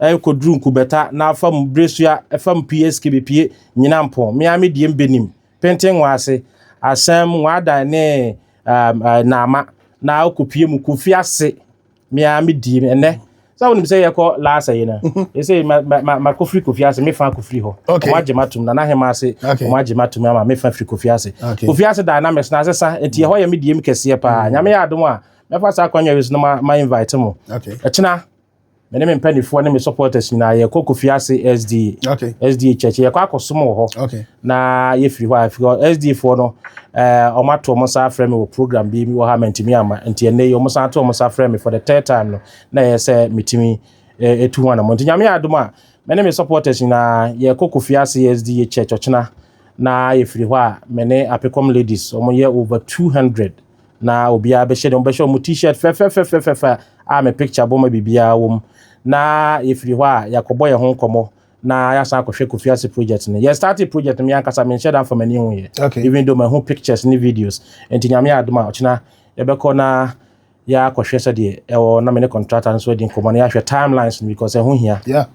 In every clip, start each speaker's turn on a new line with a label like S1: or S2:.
S1: Ɛɛ koduru nkubɛta n'afam biresua fam pie skibi pie nyina mpon me ara me die mbenim penten nwa ase asɛm nwa adan ne ɛɛm ɛɛ naama na okopie mu kofi ase me ara me die ɛnɛ sɛ wonim sɛ yɛkɔ laasa yi no mhm. ɛsɛ ma ma ma kofiri kofi ase me fa kofiri hɔ wɔn agye ma tum na n'ahema ase wɔn agye ma tum ama me fa firi kofi ase kofi ase dan na mɛsena ase sa eti ɛhɔ yɛ me diem kɛseɛ paa mhm. nyame yɛ adom a mɛfa saa akɔnyɛ yi so na ma ma invite mo ɛkyina. me ne me mpanimfoɔ ne me supporters nyinaa yɛkɔ kofi ase sda okay. sda church yɛkɔ akɔsom wɔ hɔ okay. na yɛfiri hɔ a firi sda foɔ no eh, wɔn ato wɔn nsa afrɛ me wɔ program bi wɔ ha mantumi ama nti ɛnɛ yi wɔn san ato wɔn nsa afrɛ me for the third time no na ɛyɛ sɛ metumi eh, etu ho anamɔ nti nyame yɛ adom a me ne me supporters nyinaa yɛkɔ kofi ase sda church ɔkyena na yɛfiri hɔ a me ne apekɔm ladies wɔn yɛ over two hundred Na obiara bɛhyɛ deɛ wɔbɛhyɛ wɔn t-shirt fɛfɛfɛfɛfɛ a me picture bɔ ma biribiara wɔ mu. Na yɛfiri hɔ a yɛakɔbɔ yɛn ho nkɔmmɔ na yɛasan akɔhwɛ Kofi Ase project no. Yɛ start project no me ankasa menhyɛ da mfa m'ani ho yɛ. Okay. Even though mahu pictures ne videos. Nti nyame adom a ɔkyena yɛbɛkɔ na yɛakɔhwɛ sɛdeɛ ɛwɔ na me ne contractor nso adi nkɔmmɔ na yɛahwɛ timelines no because ɛho hia. Yeah.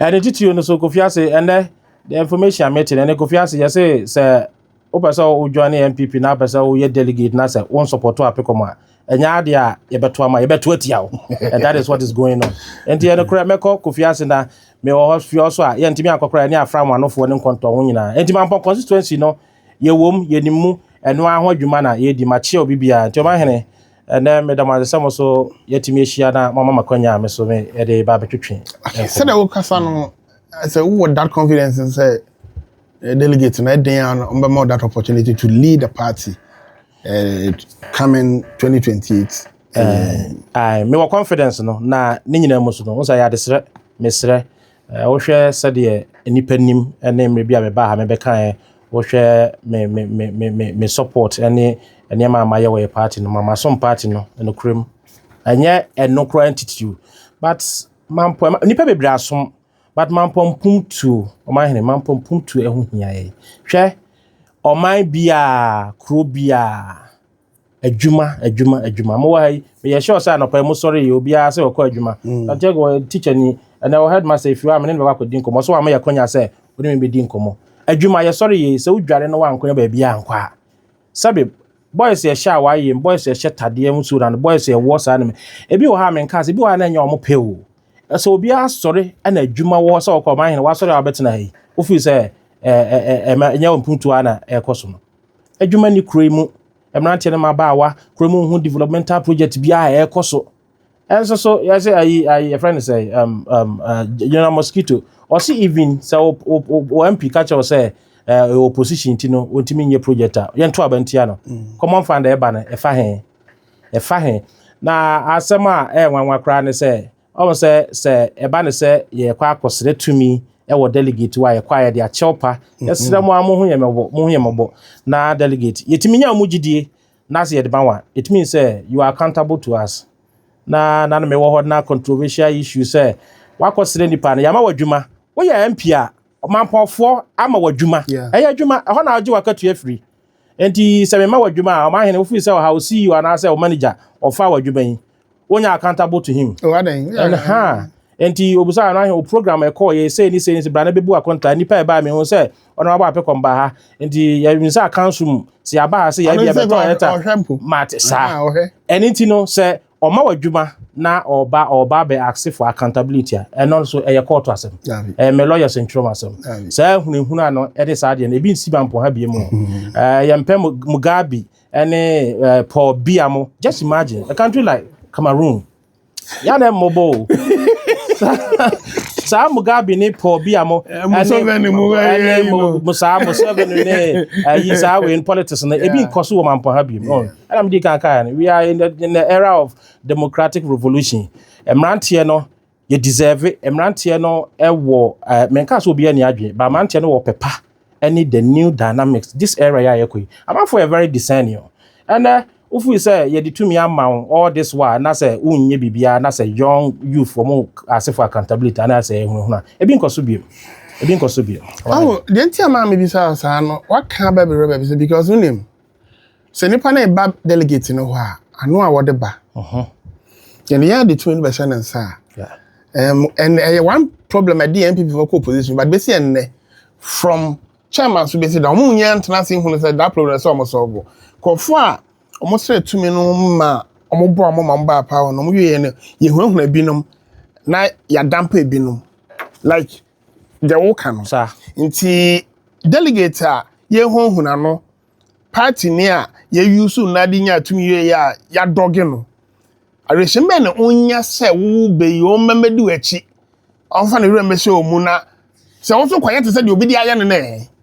S1: Ɛne titiri no so Kofi Ase ɛnɛ the information a mete no ɛne Kofi Ase yɛse sɛ Wopɛ sɛ wo join NPP na apɛ sɛ woyɛ delegate na sɛ wo nsupporto apekɔm a, ɛnyɛ adeɛ a yɛbɛto ama yɛbɛto atia wo. And that is what is going on. Nti ɛno korɛ mɛkɔ Kofi Ase na mewɔ hɔ fie hɔ so a yɛntumi ankɔ koraa ɛne afra nwanofoɔ ne nkɔntɔn ho nyinaa. Nti Mampɔn constituency no yɛwom yɛnim mu ɛno ara ho adwuma na yɛredi. Makyea obi biara. Nti Ɔmanhene ɛnɛ meda mo ase sɛ mo so yɛatumi ahyia na moama me akwanya a me so mede ba abɛtwetwe nkɔmmɔ. Sɛdeɛ wokasa
S2: no sɛ wowɔ that confidence sɛ Eh, delegate na ɛdɛn a ɔbɛma that opportunity to lead the party uh, coming 2028 uh, eh,
S1: aye mewɔ confidence no na ne nyinaa mu so no wo sɛ yɛ adesrɛ mesrɛ eh, wohwɛ sɛdeɛ nnipa nim ne mmerɛ bi a mebaa ha mebɛkaeɛ wohwɛ me me me me me support ne nneɛma a mayɛ wɔ yɛ party no ma masom party no nokorɛm ɛnyɛ ɛno koraa ntitiriw but mampɔ nnipa bebree asom But Mampɔnpumtuo, ɔman hene, Mampɔnpumtuo ɛho hia yɛn. Hwɛ, ɔman biaa, kuro biaa, adwuma, adwuma, adwuma. Mo wɔ ha yi, meyɛ sure sɛ anɔpa yi mo sɔre yi, obiaa sɛ ɔkɔ adwuma. Santiago mm. wɔ teacher ni, ɛnɛ wɔ headmaster efiwa, mene ne bɛkɔ akɔdi nkɔmmɔ. So ama yɛ kwanya sɛ, wone me bɛdi nkɔmmɔ. Adwuma, yɛsɔre yɛ, sɛ wodware no wankɔ na baabiaa nkɔ a, sɛbi boys yɛ hyɛ a wayem boys yɛ hyɛ tadeɛ mu so na no boys yɛ wɔ saa no ebi wɔ ha me nka sɛ ebi wɔ ha na ɛnyɛ wɔn pɛ o ɛsɛ obi asɔre ɛna adwuma wɔ sɛ ɔkɔ ɔman hene wasɔre a ɔbɛtena ha yi ofiri sɛ ɛɛ ɛɛ ɛma ɛnyɛ wɔn mpuntu a na ɛkɔ so no adwuma ni kuro yi mu mmeranteɛ no ma abaawa kuro mu ho developmental project bi a ɛkɔ so. Ɛnso so yɛsɛ ayi ayi yɛfrɛ no sɛ um, um, uh, General Mosquito ɔse even sɛ wɔ MP ka kyerɛw sɛ ɛwɔ eh, opposition ti no wɔntumi nyɛ project a yɛnto aba ntia no mm. common fund ɛba no ɛfa he ɛfa he na asɛm a ɛyɛ nwanwa koraa ne sɛ ɔmo sɛ sɛ ɛba ne sɛ yɛkɔ akɔsrɛ tumi ɛwɔ delegate wa yɛkɔ ayɛ de akyɛw pa mm-hmm. yɛsrɛ mo a mo ho yɛ mɔbɔ mo ho yɛ mɔbɔ na delegate yɛtumi nya ɔmo gyidie Na sɛ yɛde ma wo a, it means sɛ you are accountable to us. Na na me wɔ hɔ na controversial issue sɛ wakɔ srɛ nipa no yɛama w'adwuma. Woyɛ MP a, ɔmampɔnfoɔ ama w'adwuma. Yeah. Ɛyɛ adwuma, ɛhɔ na ɔgye w'akatua firi. Enti sɛ mema w'adwuma a, ɔmanhene wofiri sɛ ɔha wo CEO anaasɛ wo manager ɔfa w'adwuma yi. wonya accountable to him oh, and ha nti obisa no ahe o program ɛkɔ yɛ sei ne sei ne sɛ bra na bɛbu akɔnta nipa ɛbaa me ho sɛ ɔno abɔ apɛ kɔmba ha nti yɛmi sɛ akanso mu sɛ yɛaba ha sɛ yɛbi abɛtɔ ɛta mate saa ɛne nti no sɛ ɔma w'adwuma na ɔba ɔba bɛ ase for accountability a ɛno nso ɛyɛ kɔɔto asɛm ɛyɛ mɛ lawyers ntwerɛm asɛm saa hunahuna no ɛde saa deɛ no ebi nsi ma mpɔ ha bie mu ɛyɛ mpɛ mugabe ɛne eh, paul bia mo just imagine a country like cameroon ya na mmɔbɔ o saa mugabe ne paul bia mo eh, ɛne saa museveni ne ayi eh, saa wei in politics no ebi nkɔ so wɔ mampɔ ha bi mu oh, ɛna mede kan kaa no we are in the, in the era of democratic revolution mmeranteɛ no yɛ deserve mmeranteɛ no wɔ ɛɛ menka sɛ obiara ni adwene ba mmeranteɛ no wɔ pɛ pa ɛne the new dynamics this era yɛ a yɛkɔ yi amanfo yɛ very discerning o ɛnɛ wofiri sɛ yɛde tumi ama wo all this while na sɛ wonyɛ biribiara na sɛ young youth wɔn asefo accountability anaa sɛ ɛhunahuna ebi nkɔ so biem ebi nkɔ so biem.
S2: awo deɛ nti a maa mi bi saa saa no waka bɛbi rɛbɛ bi sɛ because wonim sɛ nipa no ba delegate no hɔ a ano a wɔde ba yɛn yɛn adi tumi no bɛhyɛ ne nsa a ɛn ɛyɛ one problem ɛde yɛn npp fɔ kɔ opposition but bɛsi ɛnnɛ from chairman so bɛsi da wɔn nyɛ ntena ase nhunu sɛ that problem sɛ wɔn sɔɔbo kɔfo a wɔn srɛ tumi no ma wɔn bɔ wɔn ma wɔn ba apa wɔn wɔn wie yɛn no yɛhunahuna binom na yɛadampa ebinom like. deɛ woka no. Sa. Nti delegate a yɛhunahuna no, party ni a yɛuse no na de nya tumi wei a yɛadɔge no, awerɛhyɛm bɛn na ɔnya sɛ wowo bɛ yi, wɔn mma mmɛdi w'akyi, wɔmfa ne werɛ mmɛhyɛ wɔn mu na sɛ wo nso kɔyɛ te sɛ deɛ obi de ayɛ no no ɛ?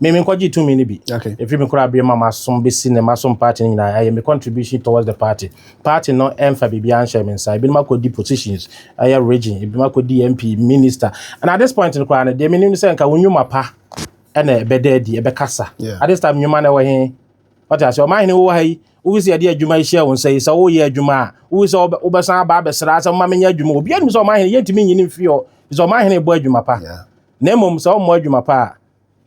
S1: Me me nkɔgye tumi no bi. Okay. Efi me kora abiri ma masom besi ne masom party no nyinaa ɛyɛ me contribution towards the party. Party no ɛnfa biribi anhyɛ me nsa. Ebinom akɔdi positions ɛyɛ region, ebinom akɔdi MP, minister. And at this point no koraa no deɛ menim sɛ nka wo nnwuma pa ɛna ɛbɛda adi, ɛbɛkasa. Yeah. At this time nnwuma no ɛwɔ he? Ɔte ase ɔman hene wowɔ ha yi wofi sɛ yɛde adwuma yi hyɛ wo nsa yi sɛ woyɛ adwuma a wofi sɛ wobɛsan aba abɛsra sɛ mma menyɛ adwuma obiara nim sɛ ɔman hene yɛntumi nyini mfiri hɔ sɛ ɔman hene bɔ adwuma pa. Yeah. Na mmom sɛ ɔmmɔ adwuma pa a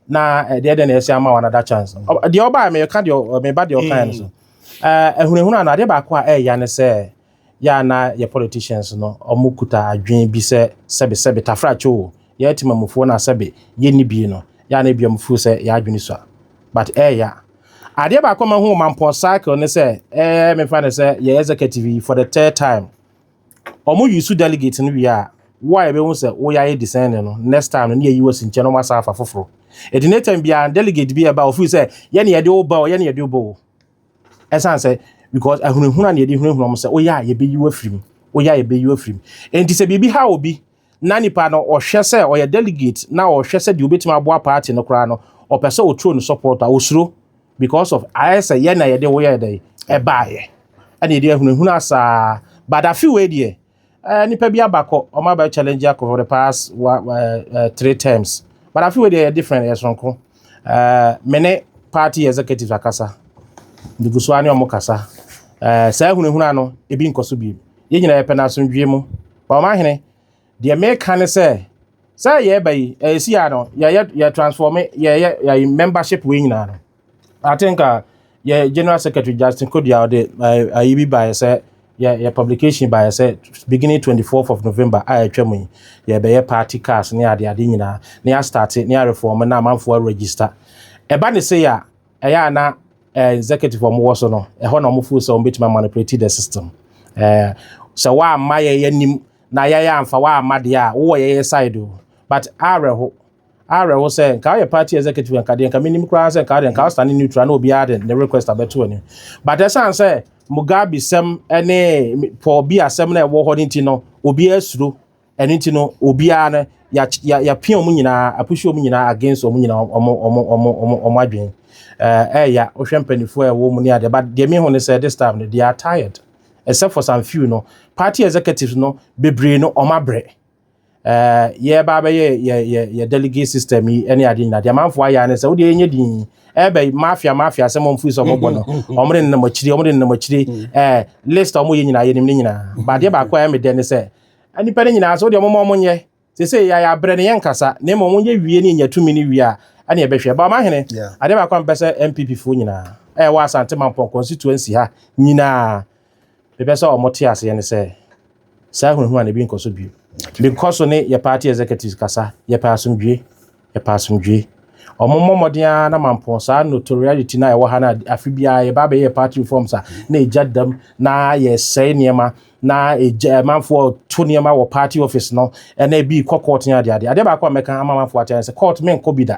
S1: na eh, deɛ deɛ na ɛsɛ ama wɔn another chance mm. deɛ ɔbaa mɛka deɛ mɛba deɛ ɔkan no so ahunahuna eh, no adeɛ baako a ɛyɛ ne sɛ yɛ ana yɛ politicians no wɔn kuta adwene bi sɛ sɛbi sɛbi tafrakye o yɛ ti mamufoɔ na sɛbi yɛ ni bi no yɛ ana ebi wɔn fo sɛ yɛ adwene so a but ɛyɛ adeɛ baako ma ho mampɔ cycle ne sɛ ɛɛ mɛfa ne sɛ yɛ executive for the third time Ɔmo use delegate no wie a, wo a yɛbɛhu sɛ woyɛ ayɛ discerning no, next time no ne yɛyi wo asi nkyɛn na ɔmo asan afa foforo. Eti next time biara delegate bi a ɛba a ɔfeel sɛ yɛ ne yɛde wo ba o, yɛ ne yɛde wo ba o. Ɛsan sɛ because ahunahuna na yɛde hunahuna ɔmo sɛ woyɛ a yɛbɛyi wo afiri mu, woyɛ a yɛbɛyi wo afiri mu. Enti sɛ biribi haw obi, na nipa no ɔhwɛ sɛ ɔyɛ delegate na ɔhwɛ sɛ deɛ obetumi aboa party no koraa no ɔpɛ sɛ ɔturo no support a ɔsuro because of ayɛ sɛ yɛ na yɛde woyɛ dɛ ɛbaayɛ ɛna yɛde ahunahuna asaa but afe wei deɛ ɛɛ nipa bi abakɔ ɔmo abɛ challenge akɔ for the past wa ɛɛ eh, eh, three terms but afe wei deɛ yɛ different yɛ soronko ɛɛ mene party executive akasa ndugu so ne ɔmo kasa ɛɛ saa ahunahuna no ebi nkɔ so bi yɛn nyinaa yɛpɛ no asomdwie mu. Ɔmahene, deɛ meka ne sɛ, sɛ yɛreba yi, ɛsi a no, yɛyɛ yɛ transforme yɛyɛ yɛ membership wei nyinaa no. I think uh, yɛ general secretary Justin Kodua ɔde ayi bi baeɛ sɛ yɛ yɛ publication baeɛ sɛ beginning 24th of November a ɛtwa mu yi yɛbɛyɛ party cars ne ade ade nyinaa ne yɛastarte ne yɛareform na amanfoɔ register ɛba ne sei a ɛyɛ a na eh, executive wɔn wɔ so no ɛhɔ na wɔn fo sɛ wɔn betumi manipulate the system eh, sɛ wɔamma yɛ yɛ nim na yɛyɛ anfa wɔamma deɛ a wowɔ yɛyɛ side o but awerɛho awerɛho sɛ nka woyɛ party executive nka deɛ nka menim koraa sɛ nka deɛ nka wosane neutral na obiara de ne request abɛto ani but ɛsiane sɛ mugabe sɛm ne paul bi asɛm na ɛwɔ hɔ no nti no obiara suro ɛno nti no obiara no yɛapia wɔn nyinaa apushi wɔn nyinaa against wɔn nyinaa wɔn wɔn wɔn wɔn adwene ɛɛya eh, wohwɛ mpanimfoɔ a ɛwɔ mu ne adeɛ but deɛ mehu ne sɛ this time no they are tired except for some few no party executives no bebree no wɔn abrɛ ɛɛ yɛreba abɛyɛ yɛ yɛ yɛ delegate system yi ɛne adeɛ nyinaa deɛ amanfoɔ ayɛ ano sɛ wodeɛ yɛnyɛ din ɛbɛ mafia mafia sɛ mo nfiri sɛ ɔmo bɔ no ɔmo de nenam akyire ɔmo de nenam akyire ɛɛ list a ɔmo yɛ nyinaa yɛ nim ne nyinaa badeɛ baako a ɛmɛ dɛ ne sɛ Nnipa no nyinaa sɛ, wodeɛ momma ɔmo nyɛ, sesei yɛayɛ abrɛ no yɛnkasa, na mmom ɔmo nyɛ wie ne yɛnya tumi no wie a, ɛne yɛbɛhwɛ. But ɔmahene, adeɛ baako a mepɛ sɛ NPP foɔ nyinaa a ɛwɔ Asante Mampɔn constituency ha nyinaa mepɛ sɛ ɔmo te aseɛ ne sɛ, saa ahunahuna no ebi nkɔ so bio. Menkɔ so ne yɛ party executives kasa, yɛpɛ asomdwie. Yɛpɛ asomdwoe. Wɔmmɔ mmɔden ara na mampɔn saa notoriety no a ɛwɔ ha no a afe biara yɛba abɛyɛ party reforms a na egya dam na yɛsɛe nneɛma na egya amanfoɔ to nneɛma wɔ party office no ɛna ebi kɔ court ne adeade. Adeɛ baako a mɛka ama amanfoɔ ate ayɛ sɛ court menkɔ bi da.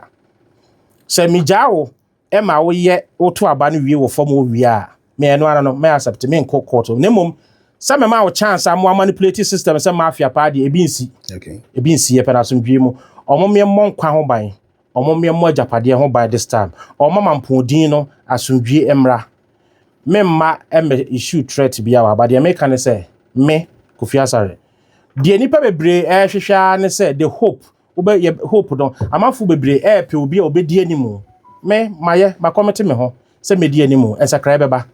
S1: Sɛ megyaa wo ɛma woyɛ woto aba no wie wɔ fam owia a me ɛno ara no mɛ accept me nkɔ court na mmom sɛ mɛma wo chance a mo manipulate system sɛ mafia paa deɛ ebi nsi okay ebi nsi yɛ
S2: pɛ na asomdwie
S1: mu ɔmo mmea mmɔ nkwa ho ban ɔmo mmea mmɔ agyapadeɛ ho ban this time ɔmo mama mpɔdin no asomdwie mmra me mma ɛmɛ issue threat bi a wɔ aba deɛ meka ne sɛ me Kofi Asare deɛ nipa bebree ɛrehwehwɛ ara ne sɛ the hope wobɛ yɛ hope no amanfo bebree ɛɛpɛ obi a obedi anim me mayɛ makɔmete me ho sɛ medi anim nsakrae bɛba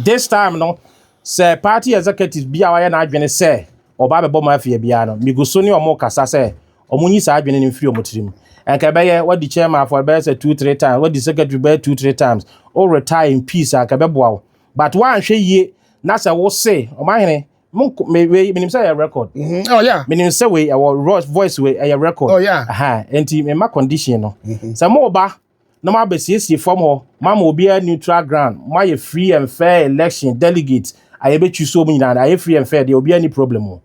S1: this time no sɛ party executive bi a wayɛ n'adwene sɛ ɔba abɛbɔ mafia biara no migu so ne ɔmo kasa sɛ ɔmo nyi saa adwene no mfiri ɔmo tirim ɛnka ɛbɛyɛ wadi chairman afɔ ɛbɛyɛ sɛ two three times wadi secretary bɛyɛ two three times o retire in peace a ɛbɛboa wo but woanhwɛ yie na sɛ wo se ɔmahene mo nko me wei menim sɛ ɛyɛ record mhm. oh, yeah. menim sɛ
S2: wei ɛwɔ
S1: voice wei ɛyɛ record oh, yeah. aha
S2: nti mema
S1: condition no mhm. sɛ mo ba na mo abɛsiesie fam hɔ mo ama obiara neutral ground mo ayɛ free and fair election delegate a yɛbɛtwi so mu nyinaa ayɛ free and fair deɛ obiara ni problem o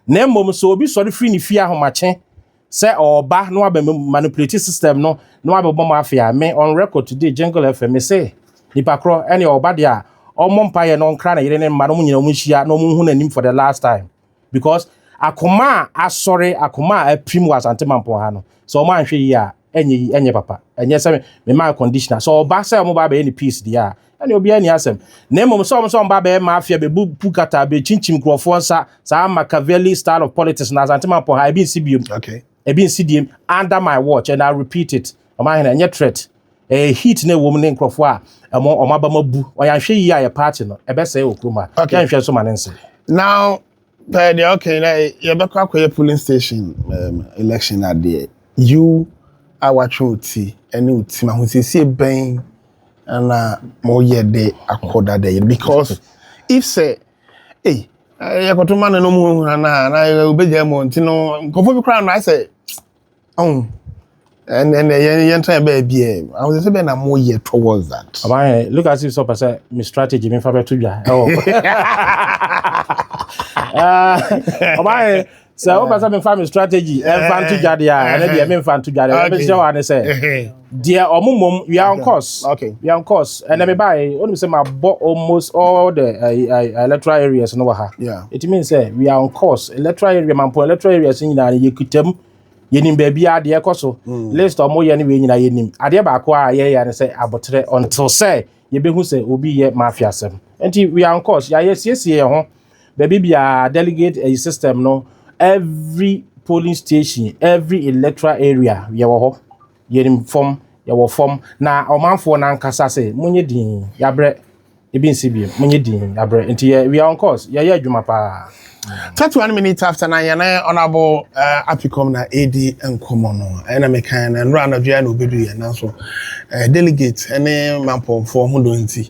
S1: na mmom sɛ obi sɔre firi ne fie ahomakye Sɛ ɔɔba na wabɛ me manipulate system no na wabɛ bɔ mo afe a, me on record today Jingle FM me se nipa korɔ ɛneɛ ɔɔba deɛ a ɔmmɔ mpaeɛ na ɔnkra ne yere ne ne mma na ɔmo nyina ɔmo nhyia na ɔmo nhu n'anim for the last time because akoma a asɔre akoma a apirim wɔ Asante Mampɔn ha no sɛ ɔmo anhwɛ yie a ɛnyɛ yi ɛnyɛ papa ɛnyɛ sɛ me ma conditioner sɛ ɔɔba sɛ ɔmo ba abɛyɛ ne peace deɛ a Ɛne obiara ni asɛm. Na mmom sɛ wɔn sɛ wɔba bɛyɛ mafia, bebu pu kata, bekyinkyim nkurɔfoɔ nsa, saa Machiavelli style of politics na Asante Mampɔ ha, ebi nsi biom. Okay. Ebi nsi
S2: diem
S1: under my watch and I repeat it. Ɔma ahene, ɛnyɛ threat. Ɛyɛ heat na ɛwɔ mu ne nkurɔfoɔ a ɛmo wɔn abam abu. Wɔn yɛanhwɛ yie a yɛ party no, ɛbɛsɛe wɔ kurom ha. Okay. Yɛnhwɛ nso ma ne nse. Now,
S2: pɛɛ deɛ ɔka yi na yɛbɛkɔ akɔyɛ polling station um, election adeɛ you a watwe wo ti ne wo tim ahosiesie bɛn na moyɛ de akɔ dada yɛ because if sɛ ei yɛkɔto ma no no mu hura no a na wobɛgya mu nti no nkɔfoɔ bi koraa no ayɛ sɛ Oh, and and yɛn yɛn try bɛyɛ bi ɛ ahosuo sɛ bɛyɛ na mo yɛ towards that. ɔbaa yɛ look as if sɛ ɔpɛ
S1: sɛ me strategy me nfa bɛto dwa ɛwɔ ɔbaa yɛ sɛ ɔpɛ sɛ me nfa me strategy ɛnfa nto dwa deɛ a ɛnɛ deɛ me nfa nto dwa deɛ ɛbɛhyɛ wa ne sɛ. Deɛ ɔmo mmom we are on course. Okay. We are on course.
S2: And then me
S1: buy. Only say my bought almost all the uh, uh, uh, electoral areas no ha. Yeah. It means say we
S2: are on
S1: course. Electoral area, man, po electoral areas in Yina, you could tell. Yenim baby a deɛ kɔ so mm. list ɔmo yɛ ne wei nyinaa yenim adeɛ baako a yɛyɛ ne sɛ abotire until sɛ yɛbɛhu sɛ obi yɛ mafia sɛm nti we are on course yɛayɛ siesie yɛn ho Baabi biara delegate ɛyi system no every polling station every electoral area yɛwɔ hɔ yɛnim fam yɛwɔ fam na ɔmanfoɔ no ankasa sɛ monyɛ din yɛabrɛ ebi nsi bi monyɛ din yɛabrɛ nti yɛ we are on course yɛyɛ adwuma paa. 31
S2: minutes after na yɛne ɔnabo eh, apicom na ɛredi nkɔmmɔ no ɛna mekan na nnora anadwo a na ɔbɛdu yɛn nanso eh, delegate ne mampɔnfoɔ ho dɔ nti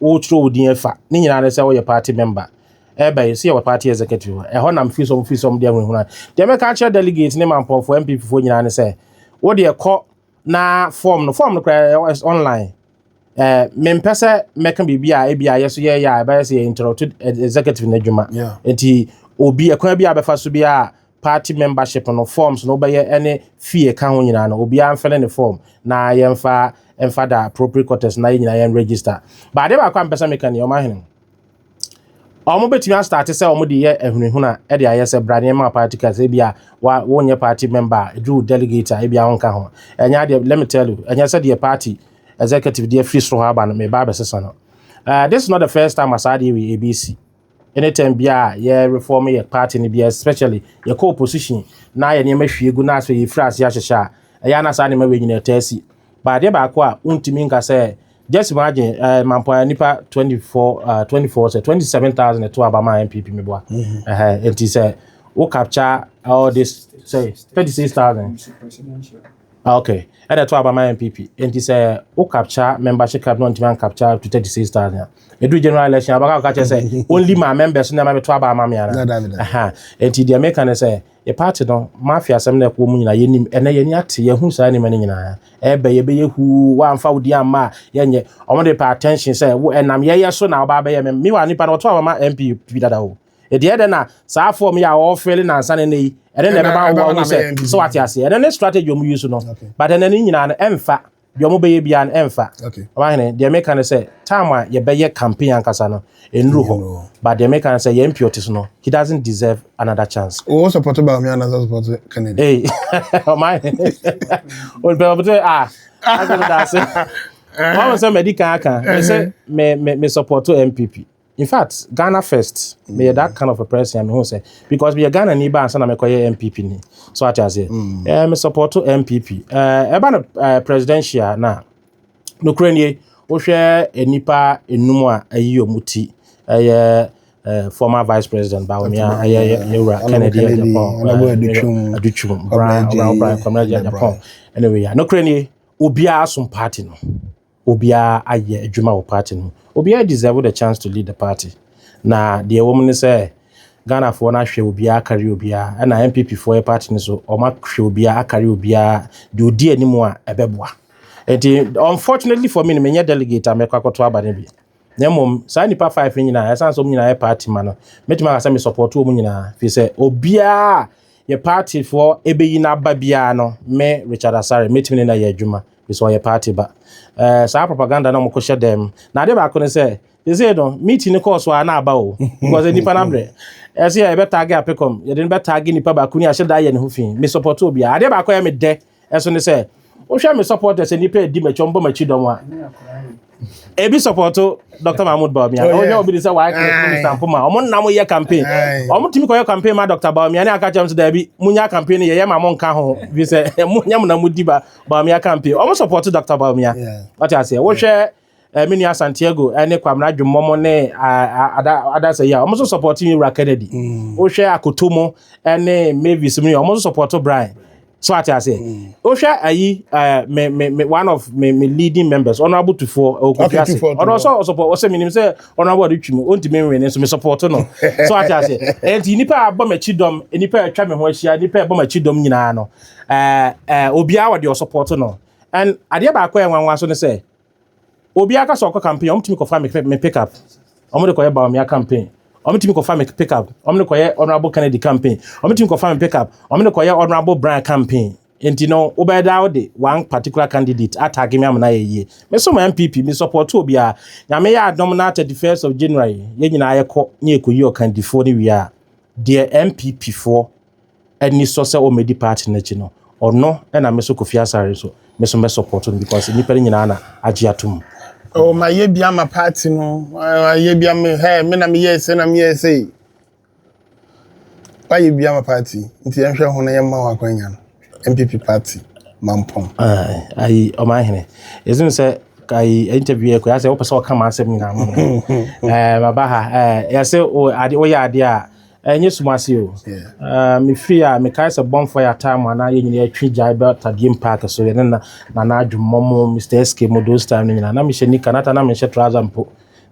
S1: wotwerɛ wo din afa ne nyinaa ne sɛ woyɛ party member ɛbɛ yi so yɛwɔ party executive hɔ ɛhɔ nam firi sɔm firi sɔm deɛ hunhuna deɛ mɛka akyerɛ delegate ne mampɔnfoɔ mpp foɔ nyinaa ne sɛ wo deɛ kɔ na form no form no koraa online ɛɛ mempɛ sɛ mɛka biribi a ebi a yɛ so yɛyɛ a ɛbɛyɛ sɛ yɛ interrupt executive no adwuma nti obi ɛkwan bi a bɛfa so bi a party membership no forms no wobɛyɛ ne fee ɛka ho nyinaa no obiara mfɛle ne form na yɛmfa ɛmfa da appropriate quarters na yɛ nyinaa yɛn register but adeɛ baako a mpɛ sɛ meka ni ɔma hene wɔn bɛtumi astate sɛ wɔn de yɛ ahunahuna de ayɛ sɛ bra nneɛma a party card sɛ ebi a wa wonyɛ party member a edu delegate a ebi a wɔnka ho ɛnyɛ adeɛ let me tell you ɛnyɛ sɛ deɛ party executive deɛ firi soro hɔ aba no meba abɛsesa no uh, this is not the first time asaa deɛ wei ebi si Anytime biara a yɛ reform yɛ party no biara especially yɛkɔ opposition na yɛ nneɛma hwie gu na afei yɛfiri ase ahyehyɛ a, ɛyɛ na saa nneɛma wei nyina ɛtaa si. Ba adeɛ baako a wontumi nka sɛ just imagine uh, Mampoa nipa 24 uh, 24 sɛ 27000 ɛto aba ma NPP meboa. Mm -hmm. uh -huh. Nti sɛ wo capture all this say 36000 Ok ɛna ɛtɔ aba ma NPP nti sɛ wo capture membership card na ɔntumi an capture up to 36 thousand a ɛduru general election abaka ka kyerɛ sɛ only my members na ɛma bɛtɔ aba ama me ana ɛha nti deɛ meka ne sɛ yɛ party no mafia asɛm na ɛkɔ mu nyinaa yɛnim ɛnɛ yɛni ate yɛhu saa nneɛma no nyinaa ɛbɛ yɛbɛyɛ huu woamfa wo din amma a yɛnyɛ ɔmo de pɛ attention sɛ wo ɛnam yɛyɛ so na ɔba abɛyɛ me mewa nipa no ɔtɔ aba ma NPP dada o Ɛdeɛ dɛ na saa form yi a wɔfele na ansa na ɛnɛ yi ɛne na ɛbɛma wo ahu sɛ so wate aseɛ ɛno ne strategy ɔmo use no but ɛnɛ ne nyinaa no ɛmfa deɛ ɔmo bɛyɛ biara no ɛmfa ɔmahene deɛ meka ne sɛ time a yɛbɛyɛ campaign ankasa no ɛnuru hɔ but deɛ meka ne sɛ yɛn mpiɔte so no he doesn't deserve another chance wo support ba ɔme
S2: anasa support Kennedy hey
S1: ɔmahene ɔmahene ah asɛ no daase ɔmo sɛ madi kan aka me sɛ me support MPP In fact, Ghana first, me yɛ that kind of a person, me hu sɛ, because me yɛ Ghana ni ba ansa na me kɔ yɛ MPP ni, so ate aseɛ, mm. eh, me support to MPP, eh, ɛba no eh, presidential na, nokura nie, wohwɛ eh, nipa enum a ayi ɔmo ti, ɛyɛ eh, eh, former vice president Bawumia, ɛyɛ yɛwura Kennedy Agyapong, Adutwum, Brian, Brian, Brian, Kwamina Agyapong, anyway, nokura nie, obiara som party no. Obiara ayɛ adwuma wɔ party no mu. Obiara deserve the chance to lead the party. Na deɛ ɛwɔ mu ne sɛ Ghanafoɔ no ahwɛ obiara akari obiara. Ɛna NPP foɔ yɛ party no so, wɔn ahwɛ obiara akari obiara deɛ ɔdi anim a ɛbɛboa. Nti unfortunately for me no menyɛ delegate a mɛkɔ akɔto aba no bi. Na mmom, saa nnipa five no nyinaa, ɛsan sɛ wɔn nyinaa yɛ party ma no. Mɛtumi aka sɛ me support wɔn nyinaa. Firi sɛ obiara yɛ party foɔ ɛbɛyi n'aba biara no, me Richard Asare, mɛtumi ne no ayɛ adwuma. Firi sɛ ɔyɛ party ba. Ɛɛ saa propaganda na wɔn kɔ hyɛ dɛm. Na adeɛ baako ne sɛ, sɛsɛ no, meeting no kɔɔ so a na aba o. Because nnipa no abrɛ. Ɛsɛ yɛ yɛbɛ tag apekɔm, yɛde no bɛ tag nnipa baako ni a, ɛhyɛ da yɛ ne ho fii. Me support obiara. Adeɛ baako a ɛyɛ me dɛ Ɛso ne sɛ wohwɛ me supporters sɛ nnipa adi m'akyi ɔmbɔ m'akyi dɔm a ebi sɔpɔto dr mahmud baomia oh, ɔhwɛ obi de sɛ waayɛ minister mpoma ɔmo nna mo yɛ campaign ɔmo tumi kɔyɛ campaign ma dr baomia ne aka kyɛm so daabi munya campaign no yɛyɛ ma mo nka ho fi sɛ monyɛ mo na mudi ba baomia campaign ɔmo sɔpɔto dr baomia wate aseɛ wohwɛ me nua santiago ne kwamena dwemmɔ mo ne adasa yi a wɔn nso support yi wura kennedy mm. wohwɛ akoto mo ne mavis mu yi wɔn nso support brian so ate ase mm. wohwɛ ayi me me me one of me me leading members ɔno abotufoɔ ɔkɔfi ase ɔno nso ɔsɔpɔ ɔsɛ menim sɛ ɔno abo ɔde twi mu ɔntumi nwene nso me support no so ate ase ɛnti nipa a abɔ m'akyi dɔm nipa a atwa me ho ahyia nipa a ɛbɔ m'akyi dɔm nyinaa no ɛɛ ɛɛ obiara wɔde ɔsɔpɔt no ɛn adeɛ baako a ɛnwanwa so ne sɛ Obiara ka sɛ ɔkɔ campaign, wɔn tumi kɔfa me me pick up, wɔn de kɔyɛ Bawumia campaign. Wɔn tumi kɔfa me pick up, wɔn de kɔyɛ Honourable Kennedy campaign. Wɔn tumi kɔfa me pick up, wɔn de kɔyɛ Honourable Brian campaign. Nti no, wobɛyɛ daa wode one particular candidate atagi me ama no ayɛ yie. Me so ma NPP, me support obiara. Nyame yɛ adom na 31st of January, yɛn nyinaa yɛkɔ na yɛkɔyi ɔkandifoɔ no wie a, deɛ NPP foɔ anisɔ sɛ ɔmmɛdi party no akyi no ɔno na me nso Kofi Asare nso me nso mɛ support no because nnipa no nyinaa na agye atom. Oh mayɛ
S2: bi ama party no mayɛ bi ama hey me na meyɛɛ sɛ na meyɛɛ sɛ wayɛ bi ama party nti yɛnhwɛ ho na yɛmma wɔn akwanya no MPP party mampɔn. ayi
S1: ɔman hene ɛsene sɛ ayi interview yɛ kɔyɛ sɛ wopɛ sɛ ɔka ma asɛm nyinaa ma maba ha yɛse woyɛ adeɛ a Ɛnyɛ sum ase o. Me fie a, mekae sɛ Bɔmfɔ yɛ ataa mu a na yɛn nyinaa yɛtwe gyae ba Tadiem Park so, yɛne na Nana Adwommɔ mo, Mister SK mo those time no nyinaa. Na mehyɛ nika, na ata na menhyɛ trouser mpo.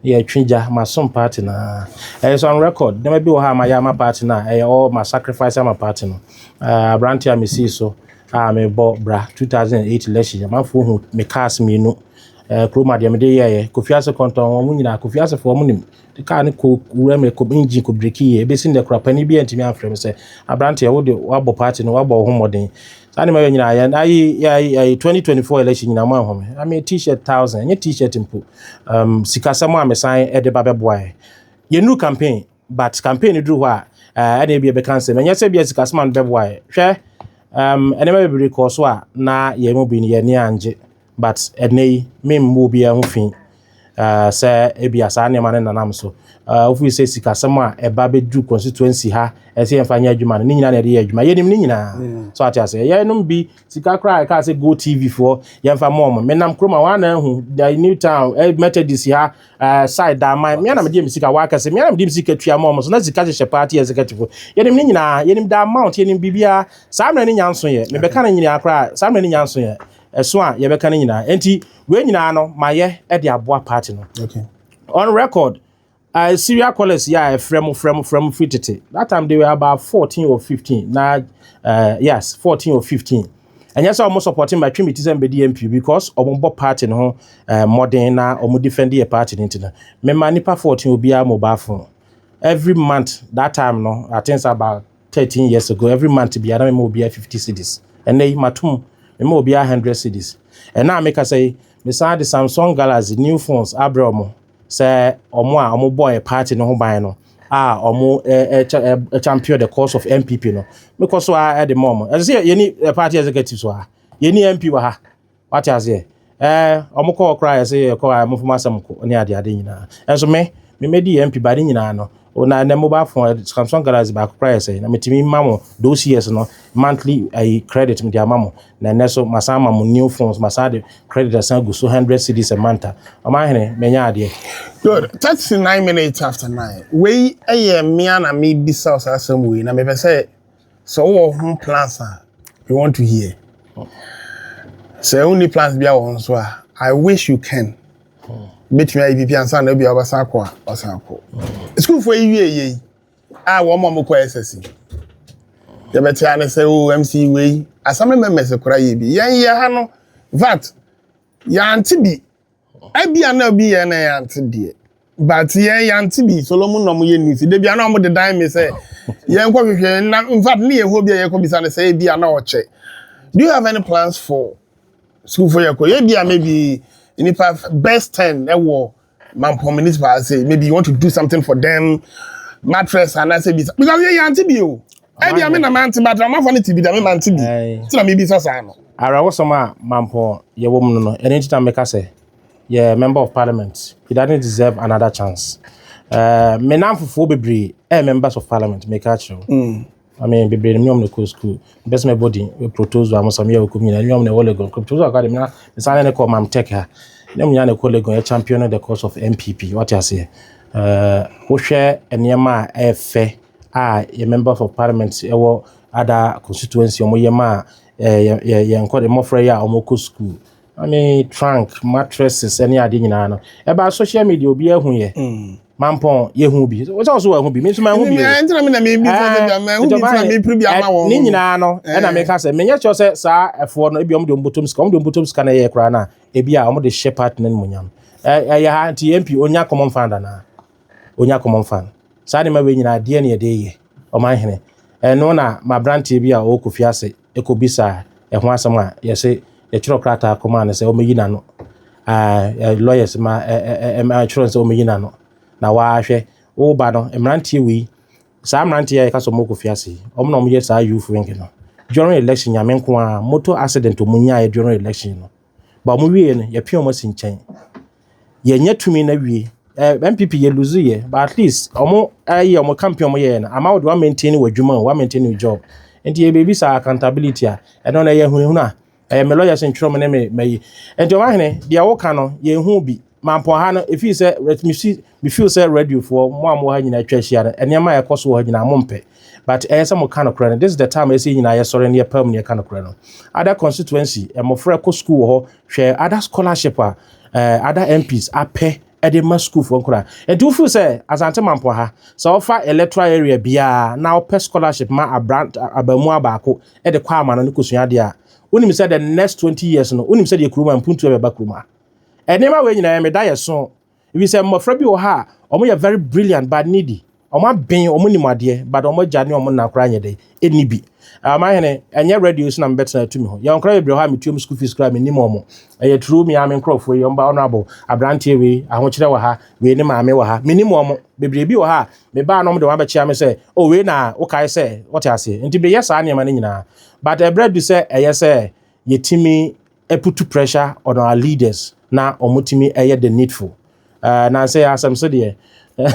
S1: Na yɛtwe gya, masom party no ara. Ɛyɛ so on record, nneɛma bi wɔ hɔ a mayɛ ama party no a ɛyɛ all ma sacrifice ama party no. Ah, aberante a mesii so a mebɔ bra 2008 election, amanfoɔ hu me cars mmienu. Eh, kurom adeɛ mede yɛɛyɛ, Kofi Ase Kɔntɔn, wɔn nyinaa, Kofi Asefoɔ wɔn nim, kaa no kɔ wura mu, ɛkɔ engine kɔ breki yɛ, ebesi nnɛ koraa panin bi antumi amfrɛ me sɛ aberanteɛ wo de wabɔ party no wabɔ wo ho mmɔden. Saa nneɛma yɛ nyinaa yɛn ayi ayi ayi 2024 election nyinaa mo anhu me. I mean t-shirt thousand nye t-shirt mpo. Um, sikasɛm a mesan de ba bɛboa yɛ. Yɛnuru campaign but campaign no duru hɔ a eh, ɛna ebi ɛbɛka nsɛm ɛnyɛ sɛ bi a sikasɛm a no bɛboa yɛ. Hwɛ um, nneɛma bebree kɔɔ so a na yɛn mu bi no yɛn ani angye. But ɛnnɛ yi, memmɔ obiara ho fi sɛ ebia saa nneɛma no nenam so. Wofiri sɛ sikasɛm a ɛba bɛduru constituency ha, ɛsɛ yɛmfa nyɛ adwuma no, ne nyinaa na yɛde yɛ adwuma. Yɛnim ne nyinaa. Mm. So ate aseɛ. Yɛnom bi sika koraa ɛkaa sɛ Go TV foɔ yɛmfa mɔ ɔmo. Menam kurom a wɔana ahu the new town eh, Methodist ha eh, side da aman. Mea na mede me sika wɔakɛse. Mea na mede me sika tua mɔ ɔmo so na sika hyehyɛ party executive. Yɛnim ne nyinaa. Yɛnim the amount, yɛnim biribiara. Saa mmerɛ ne nyanso yɛ. Mebɛka ne nyinaa koraa. Saa mmerɛ ne nyanso yɛ. Ɛso a yɛbɛka no nyinaa. Enti wei nyinaa no mayɛ de aboa party no. Okay. On
S2: record,
S1: uh, serial callers yeah, eh, frɛ mo frɛ mo frɛ mo firi tete. That time they were about 14 or 15. Na uh, yes, 14 or 15. And yes, I'm supporting my trim it is MBD MP because I'm on board party no uh, modern na I'm defending a party into me my nipa 14 will be a mobile phone every month that time no I think about 13 years ago every month biara me ma obiara 50 cedis ɛnɛ yi matum me ma obiara 100 cedis ɛna a meka sɛ yi mesan de samsung galaxy new phones abrɛ ɔmo sɛ ɔmo a ɔmo bɔɔ party no ho ban no a ɔmo champion the cause of mpp no mekɔ so a ɛde ma ɔmo ɛsɛ sɛ yɛni party executive so a yɛni mp wɔ ha Wate aseɛ? Ɛɛ, wɔkɔ hɔ koraa a, yɛse yɛkɔ a, wɔmfa mo asɛm kɔ ne ade ade nyinaa. Nanso me, me mɛdi yɛn MP, ba ne nyinaa no, o na ɛnɛ mobile phone, eh, Samsung Galaxy baako koraa yɛ sɛe, na metumi ma mo those years no monthly ayi credit mede ama mo, na ɛnɛ so masan ama mo new phones, masan de credit asan agu so hundred cedis a month a, ɔmanhene, manya adeɛ. Good, thirty
S2: nine minutes after nine, wei yɛ mmea na mebisa wo saa asɛm wei, na mepɛ sɛ Sɛ wowɔ ho plans a, we want to hear. Sɛ wonni plans bia wɔ ho nso a, I wish you can. Bɛtumi ayɛ biribi ansa na obia wobɛsan akɔ a, wasan akɔ. Sukuufoɔ yi wie yei a wɔn ma wɔkɔ SSC. Yɛbɛte ane sɛ o oh, MC wei, asame mɛmɛsɛ kora yɛ bi. Yɛn yɛ ha no, vat, yɛante bi Ebia na obi yɛ na yɛante deɛ but yɛn yɛante bi Solomon na wɔyɛ news da bia na wɔde dan me sɛ yɛnkɔ hwehwɛ na in fact ne yɛn hɔ bi a yɛkɔ bisa no sɛ ebia na ɔkyɛ do you have any plans for school for yɛkɔ yɛ bia maybe nipa best ten ɛwɔ Mampɔn municipal ase maybe you want to do something for them mattress anaasɛ bisa because yɛ yɛante bi o. Ebi ame na mante ba drama fo ne ti bi da me mante bi. Ti na me bi sa saa no. Ara wo som a
S1: mampon ye wom no no. Ene nti na me ka se ye member of parliament. He doesn't deserve another chance. Uh, me nan fufuo bebre eh members of parliament me ka kire mm. I mean bebre no nyom ne ko school. Best me body we protozoa mo samia we kumina nyom ne olegon. Protozoa ka de me na me sane ne ko mam tech ha. Nyom nya ne ko legon ye champion the cause of MPP. What you say? Uh, wo hwe enema e fe a yɛ Member for Parliament wɔ Ada constituency a wɔyɛ maa yɛn nkwadaa mmɔfra yi a wɔkɔ sukuu. I mean trunk, mattresses ne ade nyinaa no. Ɛbaa social media obiara hu yɛ. Mm. Mampɔn yɛhu bi. Wosɛ wɔso wɔahu bi, me nso mahu bi. Ɛntina mi na mi bi fɛ bi
S2: ama ɛhu bi fɛ mi piri bi ama wɔn. Ne nyinaa no ɛna
S1: mi ka sɛ menyɛ kyerɛ sɛ saa ɛfoɔ no ebi wɔn de wɔn bɔtɔm sika wɔn de wɔn bɔtɔm sika na ɛyɛ koraa na ebi a wɔn de hyɛ party no mu nyam. Ɛyɛ ha nti MP onya common fund anaa. ɔnya common fund. Saa nneɛma wei nyinaa deɛ ne yɛde reyɛ Ɔmanhene? Ɛno na m'aberanteɛ bi a ɔwɔ Kofi ase kɔbisaa ɛho asɛm a yɛse yɛtwerɛ krataa kɔmaa no sɛ ɔmmɛyi n'ano. Aah, lawyers ma ɛtwerɛ no sɛ ɔmmɛyi n'ano. Na waa hwɛ, wo ba no, mmeranteɛ wei, saa mmeranteɛ yi a yɛka sɛ wɔwɔ Kofi ase yi, wɔn na wɔyɛ saa youth wing no. During election, Nyame nko ara, motor accident a wɔnyaeɛ during election no, ba wɔn wie no yɛpia wɔn asi nkyɛn yɛnyɛ tumi na wie ɛɛ eh, npp yɛ lose yɛ but at least wɔn ɛyɛ wɔn campaign wɔn yɛɛ no ama wɔde wɔn maintain wɔ adwuma o wɔn maintain wɔ job nti yɛ biribi saa accountability a ɛno na ɛyɛ hunahuna ɛyɛ me lɔyɛ sɛ ntwerɛ mu ne me mayi nti wɔn ahene deɛ wɔka no yɛn ho bi. Mampɔn ha no ɛfiri sɛ mesi me feel sɛ radiofoɔ mo a mo ha nyinaa atwa ahyia no nneɛma a ɛkɔ so wɔ ha nyinaa mompɛ but ɛyɛ sɛ mo ka nokorɛ no this is the time ɛsɛ yɛ nyinaa yɛsɔre no yɛpam ne yɛka nokorɛ no ada constituency mmɔfra kɔ school wɔ hɔ hwɛ ada scholarship a eh, ada MPs apɛ ɛde ma sukuufoɔ nkora ɛnti wofiri sɛ asante mampɔ ha sɛ wɔfa electoral area biara na wɔpɛ scholarship ma abra abamu abaako ɛde kɔ ama no ne kɔsua adeɛ a wonim sɛ the next 20 years no wonim sɛ deɛ kuruma mpuntu ɛbɛba kuruma Nneɛma wei nyinaa meda yɛ so efisɛ mmɔfra bi wɔ hɔ a wɔn yɛ very brilliant but needy. Wɔn aben, wɔn nim adeɛ but wɔn agya ne wɔn na koraa nyɛ dɛ ɛnni bi. Ɔmanhene, ɛnyɛ radio so na mebɛtena atu me ho. Yɛn koraa bebree wɔ hɔ a metuam school fees koraa mennim wɔn. Ɛyɛ true me ara me nkorɔfoɔ yi, wɔn ba honourable, abranteɛ wei, ahokyerɛ wɔ ha, wei ne maame wɔ ha. Mennim wɔn. Bebree bi wɔ hɔ a mebaa na wɔn de wɔn abɛkyea me sɛ oh wei na wokae sɛ, wote aseɛ? Nti meyɛ saa nneɛma no nyinaa but ɛberɛ adu sɛ ɛyɛ sɛ yɛtumi put to pressure on our leaders na wɔn tumi yɛ the needful ɛɛ na nsɛ asɛm so deɛ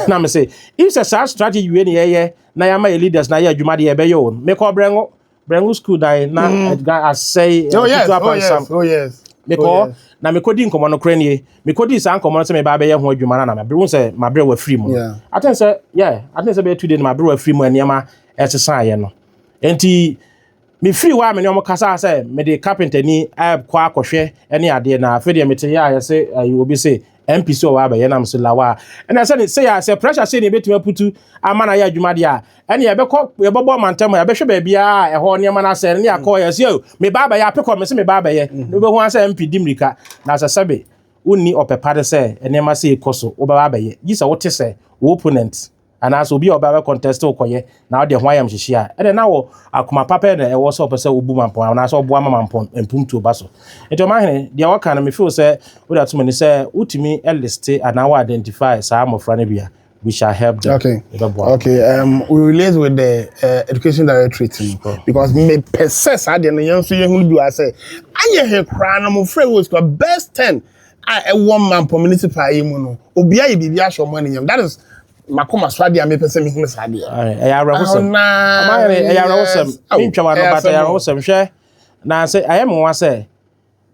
S1: na me se if sɛ saa strategy wei na yɛyɛ na yɛama yɛ leaders na yɛ adwuma deɛ yɛbɛyɛ o mekɔ brɛngo brɛngo school dan na ɛdwa mm. asɛe oh yes oh yes
S2: oh yes mekɔ oh,
S1: na mekɔdi nkɔmmɔ no korɛ nie mekɔdi saa nkɔmmɔ no sɛ mebaa bɛyɛ ho adwuma no na mabere wo sɛ maberɛ wafiri mu aten sɛ yɛ aten sɛ bɛyɛ tu de no maberɛ wafiri mu nneɛma ɛsesaeɛ no enti Mefiri hɔ a me ne wɔn kasaa sɛ mede kapentani kɔ akɔhwɛ ne adeɛ na afei deɛ mete yɛ a yɛse ayi obi se MP sɛ ɔwɔ abɛyɛ nam so lawa ɛna sɛ ne sɛ yɛ sɛ pressure sɛ ne ebetumi aputu ama na yɛ adwuma deɛ a ɛne yɛbɛkɔ yɛbɛbɔ ɔmantam a yɛbɛhwɛ baabi a ɛhɔ nneɛma no asɛ ne akɔ yɛ sɛ me ba abɛyɛ apekɔ me se me ba abɛyɛ na wobɛhu asɛ MP di mmirika na sɛ sɛbe wonni ɔpɛ pa de sɛ nneɛma sɛ ekɔ so wobɛba abɛyɛ gye sɛ wote sɛ wo opponent anaasɛ obi a ɔbɛ abɛ contest wo kɔyɛ na wode ho ayamhyehye a ɛnna na wɔ akoma pa pɛ na ɛwɔ sɛ ɔpɛ sɛ obu mampɔn anaasɛ ɔboa ma mampɔn mpomtuo ba so nti ɔmahene deɛ wɔka no mefeel sɛ wode ato m'ani sɛ wotumi liste anaa wɔ identify saa mmɔfra no bi a we shall help them okay ɛbɛboa
S2: okay um, we relate with the uh, education directorate no because mepɛ sɛ saa deɛ no yɛn nso yɛhunu bi wɔ sɛ anyɛ he koraa no mofrɛ wɔ sukuu best ten a ɛwɔ Mampong Municipal yi mu no, obiara yɛ biribi ahyɛ wɔn anuonyam. That is m'akoma so adeɛ a mepɛ sɛ mehunu saa adeɛ. Aye, ɛyɛ awerɛhosɛm. Ɔna,
S1: Ama ayɛ me ɛyɛ awerɛhosɛm. yes. Au, Mentwa w'ano ɛyɛ but ɛyɛ asɛm o. awerɛhosɛm. Hwɛ, na sɛ ayɛ me nwa sɛ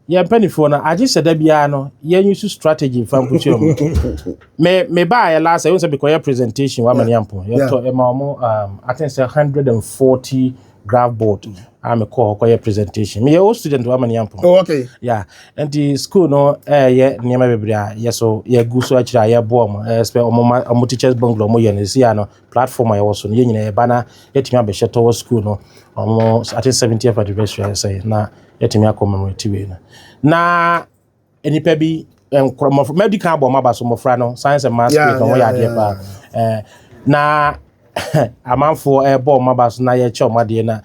S1: yɛn mpanimfoɔ no agye sɛ da biara no yɛn use strategy mfa nkosua mu. Me me baayɛ last year, ɛwɔ sɛ mekɔyɛ presentation wɔ Amani Ampo. Yeah. Yɛtɔ ɛma wɔn um, I think sɛ 140 graph board a me kɔɔ hɔ kɔyɛ presentation meyɛ old student wa mani ampɔn oh, okay. yeah.
S2: nti
S1: school no ɛyɛ nneɛma bebree a yɛ so yɛgu so akyerɛ a yɛboa mu ɛspɛ ɔmoma ɔmo teachers bungalow ɔmo yɛ no ɛsi a no platform a yɛwɔ so no yɛ nyina yɛba na yɛtumi abɛhyɛ tɔwɔ school no ɔmo ate 70th anniversary sɛ na yɛtumi akɔ commemorative wei no na nnipa bi nkorɔ mmɔfra mɛdi kan abɔ mmaba so mmɔfra no science and maths grade wɔn yɛ adeɛ paa ɛɛ na amanfoɔ ɛbɔ wɔn mmaba so na yɛkyɛ wɔn adeɛ na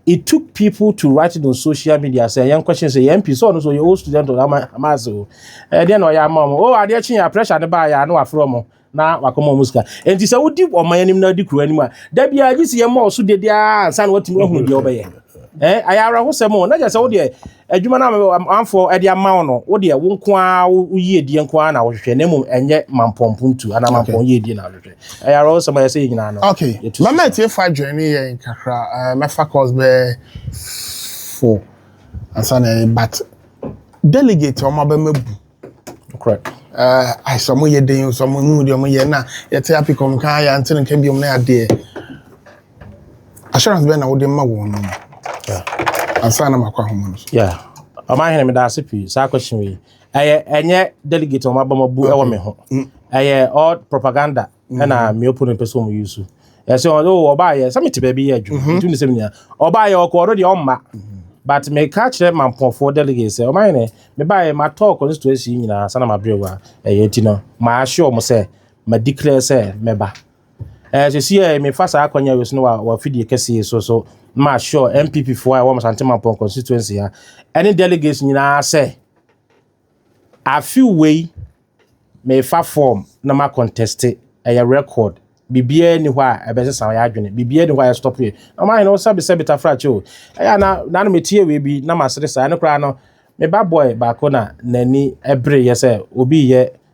S1: it took people to write it on social media sɛ yɛn question sɛ yɛn mpi sɛ ɔno so yɛ old student ɔno ama ama ase o ɛdeɛ na ɔyɛ ama wɔn o adeɛ kye yɛ pressure ne ba yɛ ano afro wɔn na wakɔma wɔn sika nti sɛ wodi ɔman anim na adi kuro anim a da bi a gye si yɛn ma ɔso dede a nsa na watumi ahunu deɛ ɔbɛyɛ ɛɛ ayɛ awerɛhosɛm o na gye sɛ wo deɛ adwuma no amanfoɔ ɛde ama wo no wo deɛ wo nko ara wo yie die nko ara na wohwehwɛ na mmom ɛnyɛ mampɔmpom tu anaa mampɔn yie die na wohwehwɛ ɛyɛ awerɛhosɛm ayɛ sɛ yɛ nyinaa no okay mɛmɛ tie fa
S2: adwene ne yɛn kakra ɛɛ mɛfa course bɛɛ fo ansa na ɛyɛ but delegate ɔmo abɛma bu Nokorɛ.
S1: Ae
S2: sɛ ɔmo yɛ den o, sɛ ɔmo hunu deɛ ɔmo yɛ na yɛte apikɔm nka a yɛante no nka biom na adeɛ. Assurance bɛn na wode ma wɔn no? Ansa na makɔ ahoma no so. Yeah. Ɔma
S1: hene meda ase pii saa question wei. Ɛyɛ ɛnyɛ delegate ɔmo abɔ mo bu ɛwɔ me ho. Mm. Ɛyɛ all propaganda. ɛna mmea opponent pɛ sɛ wɔn yi so ɛsɛ wɔn de wɔ ɔbaa yɛ sɛ mete baabi yɛ adwuma mhm. ntum ne sɛm nyinaa ɔbaa yɛ ɔkɔ ɔno deɛ ɔmma mhm. but meka kyerɛ mampɔfoɔ delegate sɛ ɔma yɛnɛ mebaeɛ matɔɔ constituency nyinaa sana mabrɛ wa ɛyɛ nti no maahye ɔmo sɛ madeclare sɛ mɛba ɛɛ sisi yɛ mefa saa akɔnya wei so no wɔ afidie kɛseɛ so so ma sure npp foɔ a ɛwɔ mo sante mampɔn constituency ha ɛne delegates nyinaa sɛ Afe wei mefa form na ma contest ɛyɛ record biribiara ni hɔ a ɛbɛsesa yɛ adwene biribiara ni hɔ a yɛ stop yɛ ɔmo ahene wo sɛbi sɛbi tafrakye o ɛyɛ na na no metie wei bi na masere saa ɛno koraa no me ba boy baako na n'ani ɛbere yɛ sɛ obi yɛ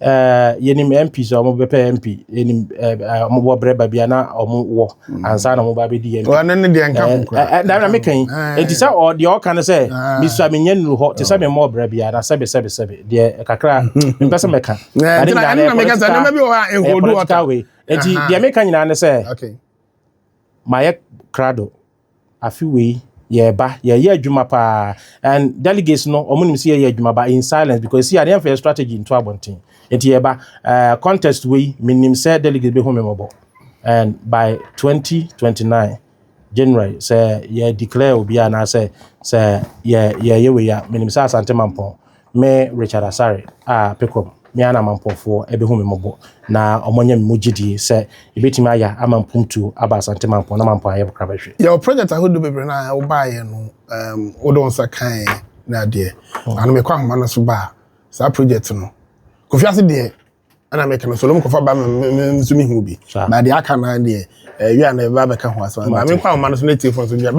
S1: Eh, yɛnim mps a wɔbɛpɛ mp yɛnim eh, eh, wɔbɔ berɛ ba bia na wɔwɔ mm. ansa na wɔba bɛdi yɛn ɛno ne deɛ nka
S2: kokora meka yi
S1: ɛnti sɛ deɛ ɔka no sɛ mesua menyɛ nnuru hɔ te sɛ memmɔ berɛ bia na sɛbe sɛbe sɛbe deɛ kakra mpɛ sɛ mɛka
S2: ɛnti deɛ meka
S1: nyinaa ne sɛ
S2: mayɛ
S1: krado Afe wei yɛɛba yɛɛyɛ adwuma paa and delegates no ɔmo nim sɛ yɛɛyɛ adwuma ba in silence because ɛsi a yɛnfa yɛ strategy nto abɔnten nti yɛɛba ɛɛ contest wei me nim sɛ delegates bɛ hu me mɔbɔ and by 2029 January sɛ yɛ declare obi a anaasɛ sɛ yɛ yɛɛyɛ wei a me nim sɛ Asante Mampɔn Me Richard Asare a Pecom me ara na Amanpɔfoɔ bɛhu me mmɔbɔ na wɔanya me mu gyedie sɛ yɛbɛtumi ayɛ ama mpuntuo aba Asante Mampɔn na Mampɔn ayɛ bkra bɛhwe. Yɛwɔ project ahodoɔ
S2: bebree no a wobaeɛ no um, wode wo nsa kaeɛ ne adeɛ. Hmm. Ano mekɔ ahoma no so baa saa project no. Kofi ase deɛ ɛna meka no solom kɔfa ba nso mehu bi. Na deɛ aka no deɛ ɛwia eh, na ɛba bɛka ho asɛm. Maame nkɔ ahoma no so na ɛtiefo nso deɛ